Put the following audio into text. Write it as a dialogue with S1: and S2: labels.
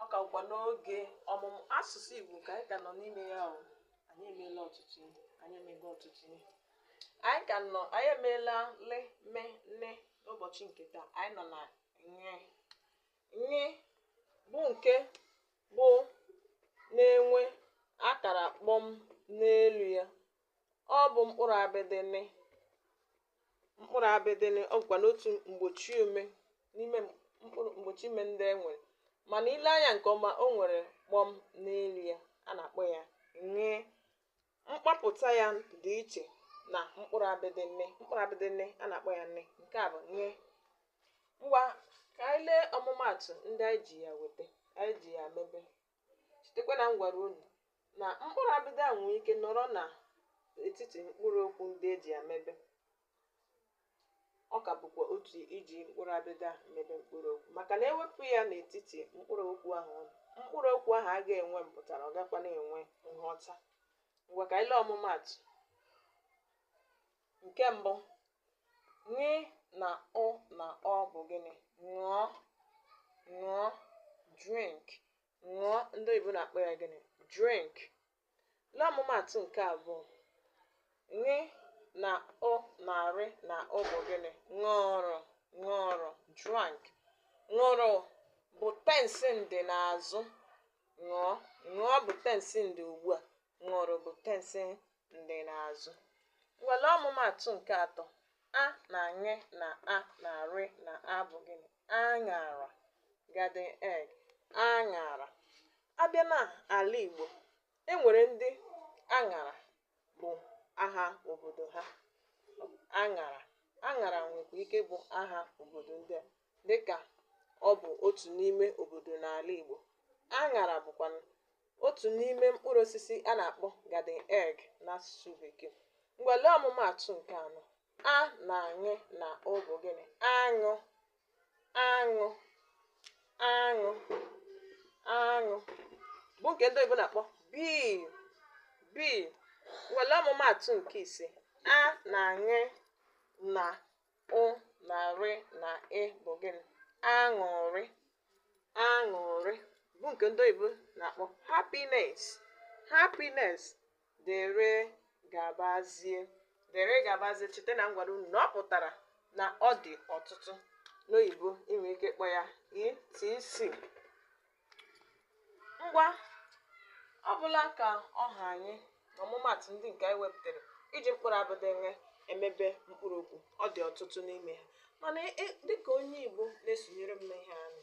S1: ọ ka bụkwa n'oge ọmụmụ asụsụ Igbo ka anyị ka nọ n'ime ya ahụ anyị emeela ọtụtụ ihe anyị emego ọtụtụ ihe anyị ka nọ anyị emeela le me nne n'ụbọchị nke taa anyị nọ na ṅee ṅee bụ nke bụ na-enwe akara kpọm n'elu ya ọ bụ mkpụrụ abịdị nị mkpụrụ abịdị nị ọ bụkwanụ otu mgbochi ume n'ime mkpụrụ mgbochi ume ndị e nwere mana i lee anya nke ọma o nwere kpọm n'elu ya a na-akpọ ya ṅee mkpapụta ya dị iche na mkpụrụ abịdị nị mkpụrụ abịdị nị a na-akpọ ya nne nke a bụ ṅee ngwa ka anyị lee ọmụmaatụ ndị anyị ji ya weta anyị ji ya mebe Chetakwa na m gwara unu na mkpụrụ abịdị a nwee ike nọrọ na etiti mkpụrụ okwu ndị e ji ya mebe. Ọ ka bụkwa otu iji mkpụrụ abịdị a mebe mkpụrụ okwu maka na e wepụ ya n'etiti mkpụrụ okwu ahụ ọ nọ, mkpụrụ okwu ahụ agaghị enwe mpụtara, ọ gakwa na-enwe nghọta. Ngwa ka anyị lee ọmụmaatụ. Nke mbụ, Ṅị na ụ na ọ bụ gịnị? Ṅụọ, ṅụọ, drink. Ṅụọ, ndị oyibo na-akpọ ya gịnị? Drink. Lee ọmụmaatụ nke abụọ. Ṅị na ụ na rị na ụ bụ gịnị? Ṅụrụ, ṅụrụ, drank. Ṅụrụ bụ tensi ndị n'azụ. Ṅụọ, ṅụọ bụ tensi ndị ugbu a. Ṅụrụ bụ tensi ndị n'azụ ngwa lee ọmụmaatụ nke atọ a na ṅị na a na arị na a bụ gịnị aṅara garden egg aṅara a bịa na ala igbo e nwere ndị aṅara bụ aha obodo ha aṅara aṅara nwekwa ike bụ aha obodo ndị a dịka ọ bụ otu n'ime obodo n'ala Igbo. Aṅara bụkwa otu n'ime mkpụrụ osisi a na-akpọ garden egg n'asụsụ Bekee. Ngwa lee ọmụmaatụ nke anọ. A na ṅị na ụ bụ gịnị? Aṅụ, aṅụ, aṅụ, aṅụ bụ nke ndị oyibo na-akpọ bee, bee. Ngwa lee ọmụmaatụ nke ise. A na ṅị na Ụ na rị na ị bụ gịnị? Aṅụrị. Aṅụrị bụ nke ndị oyibo na-akpọ happiness. Happiness dere gabazie. Dere gabazie cheta na m gwara unu na ọ pụtara na ọ dị ọtụtụ n'oyibo i nwee ike ịkpọ ya etc. ngwa ọ bụla ka ọ ha anyị na ọmụmaatụ ndị nke anyị wepụtara iji mkpụrụ abịdịị nw emebe mkpụrụ okwu ọ dị ọtụtụ n'ime ha mana dịka onye igbo na-esonyere m n'ihe anyị